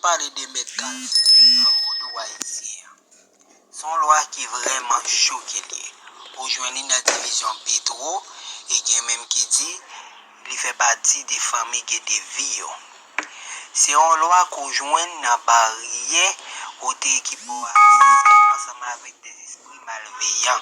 Pale de mèt kal nan vodou ayisyen an. Se yon lwa ki vrèman cho ke l ye. Ou jwenn li nan divizyon Petro e gen menm ki di li fè pati de fanmi Gedevi yo. Se yon lwa ke w jwenn nan baryè kote ki ba w aksè ansanm avèk de espri malveyan.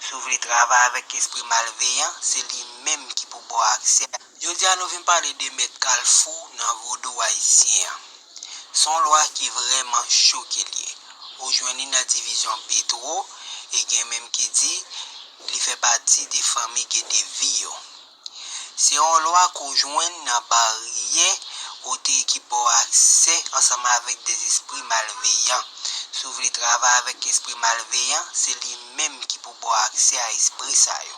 Si w vle travay avèk espri malveyan, se li menm ki pou ba w aksè. Jodia nou vin pale de mèt kalfou nan vodou ayisyen an. Son lwa ki vrèman cho ke liye. Ou jwenn li nan divizyon Petro e gen menm ki di li fè pati de fanmi Gedevi yo. Se yon lwa ke w jwenn nan baryè kote ki ba w aksè ansanm avèk de zespri malveyan. Si w vle travay avèk espri malveyan, se li menm ki pou ba w aksè a espri sa yo.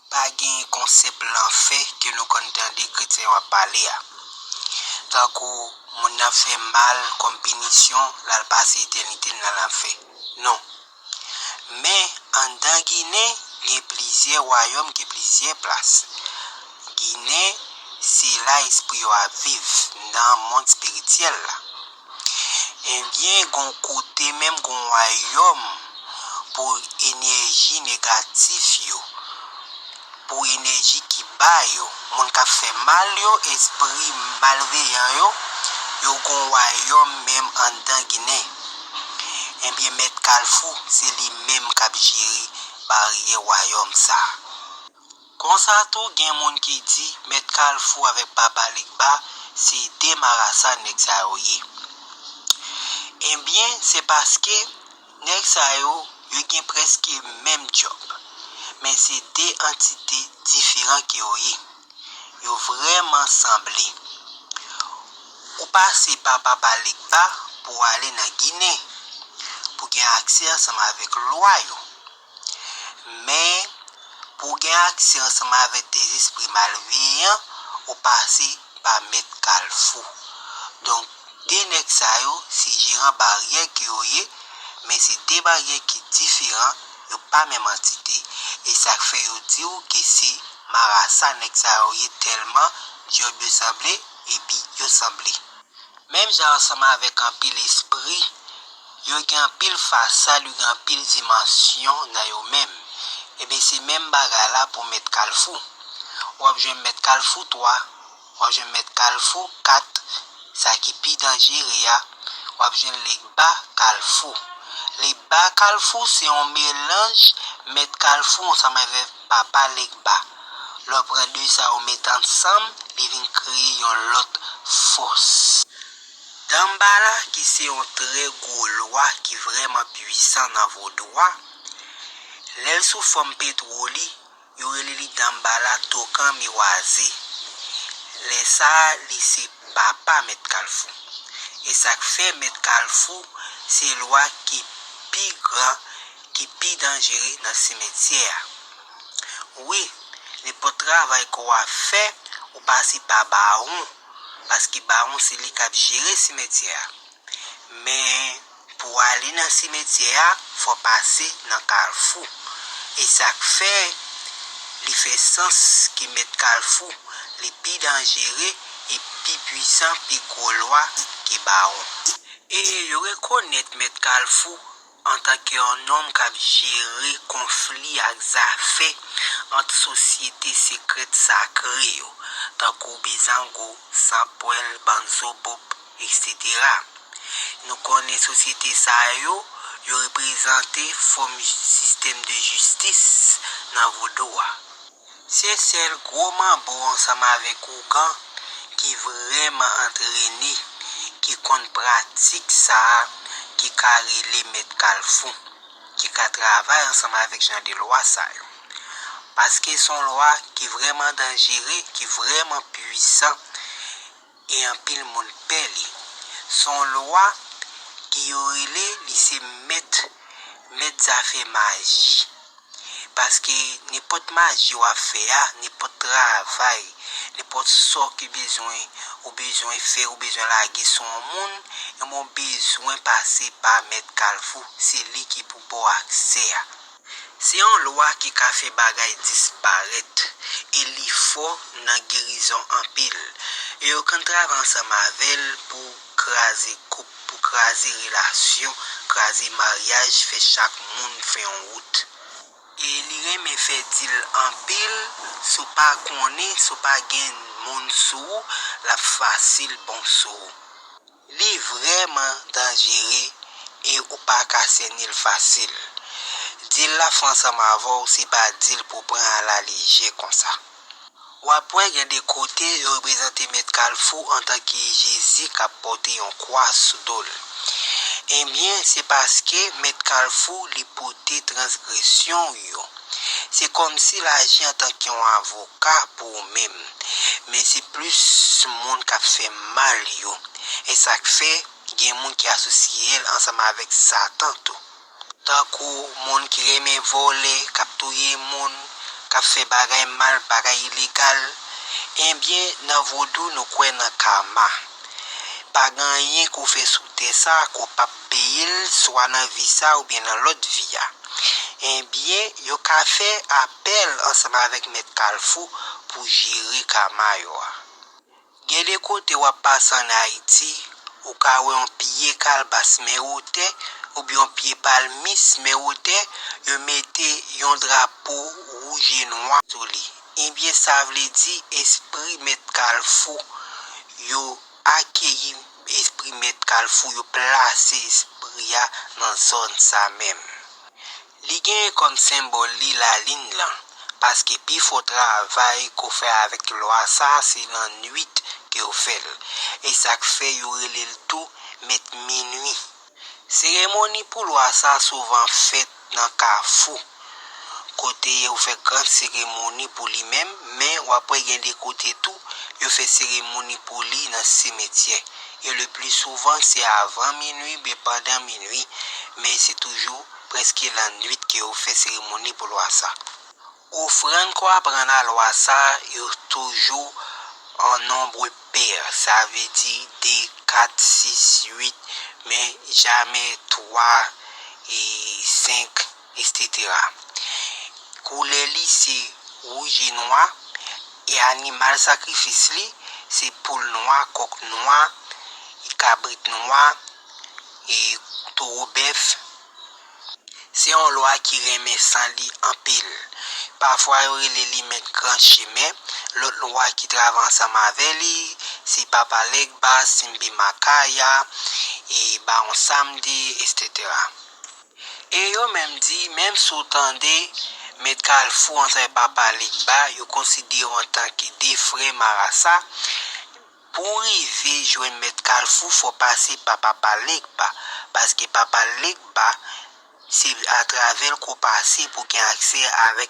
Pa gen konsèp lanfè ke nou konn tande kretyen yo ap pale a. Tankou moun nan fè mal kòm pinisyon l al pase etènite l nan lanfè. Non. Men, anndan Ginen, gen plizyè wayòm ki plizyè plas. Ginen, se la espri yo ap viv, nan mond espirityèl la. Ebyen gon kote menm gon wayòm pou enèji negatif yo, pou enèji ki ba yo, moun kap fè mal yo, espri malveyan yo, yo gon wayòm menm anndan ginen. Ebyen mèt kalfou se li menm kap jere baryè wayòm sa. Konsa tou gen moun ki di mèt kalfou avèk papa legba se 2 marasa nèg sa yo ye enbyen se paske nèg sa yo yo gen prèske menm djòb men se 2 antite diferan ke yo ye yo vrèman sanble ou pase pa papa legba pou ale nan ginen pou gen aksè ansanm avèk lwa yo. Men, pou w gen aksè ansanm avèk dezespri malveyan, ou pase pa mèt kalfou. Donk, de nèg sa yo, se jeran baryè ke yo ye, men se de baryè ki diferan, yo pa menm antite, e sa k fè yo di w ke se marasa nèg sa yo ye tèlman dyòl yo sanble, epi yo sanble. Menm jan ansanm avèk anpil espri. Yo gen anpil fasad yo gen anpil dimansyon nan yo menm ebyen se menm bagay la pou mèt kalfou wap jwenn mèt kalfou 3 wap jwenn mèt kalfou 4 sa ki pi danjere a wap jwenn legba kalfou legba kalfou se yon melanj mèt kalfou ansanm avèk papa legba lè w pran 2 sa yo met ansanm li vin kreye yon lòt fòs. Danmbala ki se yon trè gwo lwa ki vrèman pwisan nan vodou a, lè l sou fòm petwo li, yo rele li Danmbala Tokan Miwaze. Lè sa a li se papa Mèt Kalfou. E sa k fè Mèt Kalfou se lwa ki pi gran, ki pi danjere nan simetyè a. Wi, nenpòt travay kò a fè, ou pase pa bawon. paske bawon se li k ap jere simetyè a. Men, pou w ale nan simetyè a, fò w pase nan kalfou. E sa k fè li fè sans ki mèt kalfou, li pi danjere e pi puisan, pi gwo lwa ke bawon. E yo rekonèt mèt kalfou Antanke yon nonm k ap jere konfli ak zafè ant sosyete sekrèt sakre yo, tankou Bizango, Sanpwèl, Banzobop, eksetera. Nou konnen sosyete sa yo, yo reprezante fòm sistèm de jistis nan vodou a. Se sèl gwo manbo ansanm avèk ougan ki vrèman antrene, ki konn pratik sa a ki ka rele mèt kalfou, ki ka travay ansanm avèk jan de lwa sa yo. Paske son lwa ki vrèman danjere, ki vrèman pwisan. e anpil moun pè li. Se yon lwa ki yo rele li se mèt mèt zafè maji. Paske nenpòt maji w ap fè a, nenpòt travay, nenpòt sò ki bezwen ou bezwen fè, ou bezwen lage sou yon moun, ebyen w bezwen pase pa mèt kalfou. Se li ki pou ba w aksè a. Se yon lwa ki ka fè bagay disparèt e li fò nan gerizon anpil. E yo konn travay ansanm avè l pou kraze koup, pou kraze relasyon, kraze maryaj, fè chak moun fè yon wout. E li renmen fè dil anpil, si w pa konnen, si w pa gen moun sou ou, l ap fasil bon sou ou. Li vrèman danjere e ou pa ka sènil fasil. Dil la fè ansanm avèw se pa dil pou pran a la lejè konsa. Wap wè gen de kote yo reprezante mèt kalfou antanke Jezi kap pòte yon kwa sou dol. Ebyen se paske mèt kalfou li pote transgresyon ou yo. Se kòmsi l aji antank yon avoka pou ou menm, men se plis moun k ap fè mal yo. E sa k fè, gen moun ki asosye l ansanm avèk Satan tou. Tankou moun ki renmen vòlè, k ap touye moun, k ap fè bagay mal, bagay ilegal. Ebyen, nan vodou nou kwè nan karma. Pa gen anyen ke w fè sou tè sa a ke w pap peyil swa nan vi sa oubyen nan lòt vi a ebyen yo ka fè apèl ansanm avèk mèt kalfou pou jere kama yo a gen de kote wap pase an ayiti ou ka wè yon pye kalbas men wotè oubyen yon pye palmis men wotè yo mete yon drapo wouj e nwa sou li ebyen sa vle di espri mèt kalfou yo. Akeyi espri mèt kalfou yo plase espri a nan zòn sa menm. Li genyen kòm senbòl li lalin lan, paske pi fò travay ke w fè avèk lwa sa se lannuit ke w fè l. E sa k fè yo rele l tou mèt minui. Seremoni pou lwa sa souvan fèt nan kafou, kote yo fè gran seremoni pou li menm, men w ap wè gen de kote tou, yo fè seremoni pou li nan simetyè. E le pli souvan se avan minui oubyen pandan minui, men se toujou prèske lannwit ke yo fè seremoni pou lwa sa. Ofrann ko aprann a lwa sa yo toujou an nombre pair, sa vle di 2, 4, 6, 8, men jamè 3, 5, etc. Koulè li se wouj e nwa, e animal sakrifis li se poul nwa, kok nwa, kabrit nwa, e toro bèf. Se yon lwa ki renmen san li anpil. Pafwa yo rele li mèt gran chemen, lòt lwa ki travay ansanm avè li, se Papa Legba, Simbi Makaya, e Bawon Samdi, eksetera. E yo menm di, menm si w tande Mèt Kalfou ansanm avèk Papa Legba, yo konsidere w antanke de frè marasa, Pou w rive jwenn mèt kalfou fò w pase pa papa Legba paske papa Legba se atravè l ke w pase pou w gen aksè avèk.